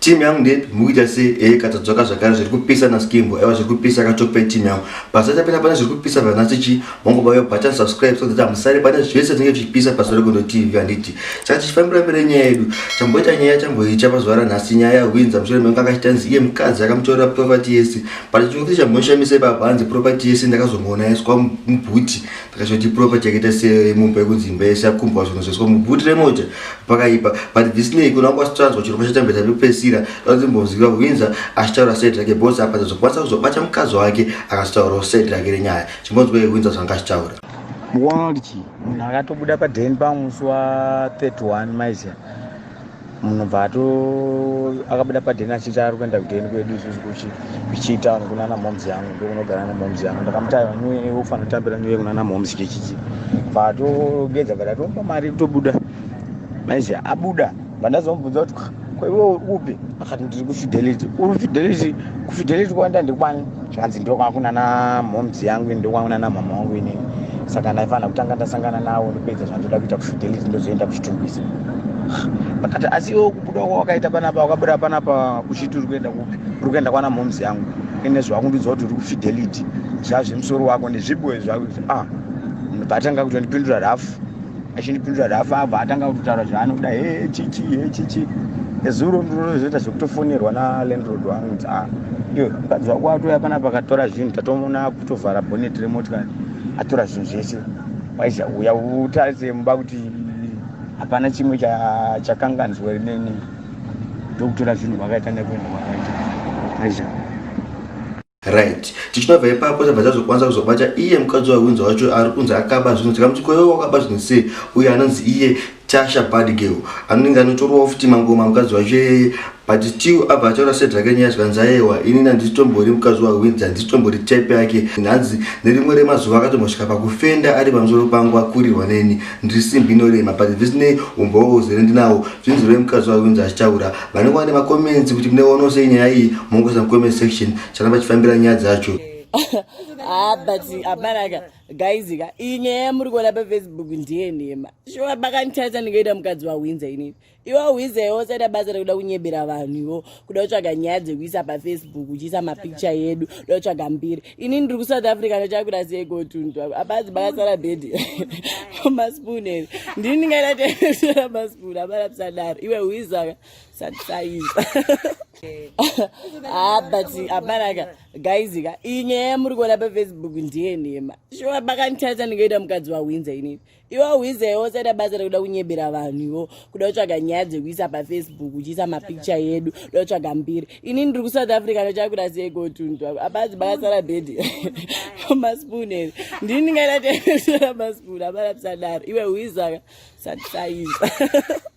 team yangu ndepi mukuita sei ee eh, katadzoka zvakare zviri kupisa naskimbo aiwa zviri kupisa katopei team yangu pasatapinda pane zviri kupisa vanasi chi mongobaya button subscribe so that amusare pane zvese tinenge tichipisa pasi regondo tv handiti saka tichifambira mbere nyaya yedu chamboita nyaya chamboicha pazuva ranhasi nyaya yahwinza mushure mengu akachita nzi iye mukadzi akamutorera property yese but chimwe kuti chamboishamisa ipapa hanzi property yese ndakazomuona yaiswa mubhuti takashoti proper chakaita semumba yekunzi imba yese yakumbwa zvinhu zveswa mubhuti remota pakaipa but this nay kuna kwasitanzwa chirongwa chatambeta pekupesira azimbonziva winza achitaura said rake bos apa tazokwanisa kuzobata mukadzi wake akasitaurawo said rake renyaya chimbonzwa yewinza zvanga achitaura mukuona kuti chii munhu akatobuda padhen pamusi wa 31 maizia munhu bva ato akabuda padheni achiti ari kuenda kudheni kwedu isusu kuchitown kuna ana moms yangu ndokunogara ana moms yangu ndakamuti aiwa nyuwe ufanira kutambira nyuwe kuna ana moms kechiti bva atogeza bva tatomupa mari kutobuda maizve abuda bva ndazomubvunza kuti kwaiwe uri kupi akati ndiri kufidelity uri kufidelity kufidelity kwanda ndikwani zvanzi ndokwakuna namhoms yangu ini ndokwakuna namama wangu ini saka ndaifanira kutanga ndasangana nawo ndopedza zvandoda kuita kufidelity ndozoenda kuchitungwiza vakati asi iwe kubuda kwa wakaita panapa wakabuda panapa kuchiti uri kuenda kupi uri kuenda kwana mhoms yangu ine zvakundiudza kuti uri kufidelity zvazvemusoro wako nezviboe zvako ah, vatanga kutondipindura rafu achindipindura rafa abva atanga kutotaura zvaanoda he chichi he chichi ezuro ndinozoita zvekutofonerwa nalandrod wangu nzi a iyo mukadzi wako atouya panapa akatora zvinhu tatomuona akutovhara bonet remotikari atora zvinhu zvese waiza uya utarise mumba kuti hapana chimwe chakanganzwa rineni ndokutora zvinhu vakaita nekuenda kwakaita aiza right tichinobva ipapo tabva tazokwanisa kuzobata iye mukadzi wahwinzi wacho ari kunzi akaba zvinhu tikamuti koyo wakaba zvinhu sei uye anonzi iye tasha badgirl anonenge anotorowa futi mangoma mukadzi wacho iyeye but still abva ataura set rake nyaya zvikanzi ayewa inini handisitombori mukadzi wahwinzi handisitombori type yake hanzi nerimwe remazuva akatombosvika pakufenda ari pamusoro pangu akurirwa neni ndiri simbi inorema but this nay umbowa uzere ndinawo zvinzi rwemukadzi wahwinzi achitaura vanenge vane macomments kuti mune ono sei nyaya iyi mongoisa mucomment section charamba chifambira nyaya dzacho ah, but hapanaka guys ka iyi nyaya yamuri kuona pafacebook ndiye nhema shuwa makanditarisa ndingaita mukadzi wahwinza inini iwe wahwinza iwe usaita basa rekuda kunyebera vanhu iwo kuda kutsvaga nyaya dzekuisa pafacebook uchiisa mapicture yedu uda kutsvaga mbiri ini ndiri kusouth africa ndachakwira sei gotundu abazi bakatsara bhedhi maspoon ere ndini ndingaita teesera maspoon abarapsadaro iwe huizaka satisaiza ah, but abaraka gaizika inyaya yamuri kuona pafacebook ndiye nhema shuwa bakanditadza ndingaita mukadzi wahwinza inini iwe hwize yosada basa rekuda kunyebera vanhu ivo kuda kutsvaga nyaya dzekuisa pafacebook uchiisa mapicture yedu kuda kutsvaga mbiri ini ndiri kusouth africa ndochakuda sei gotundu abazi bakasara bhedhi maspoon ere ndini ndingaita teesara maspoon abarapisadaro iwe hwizaka satisaisa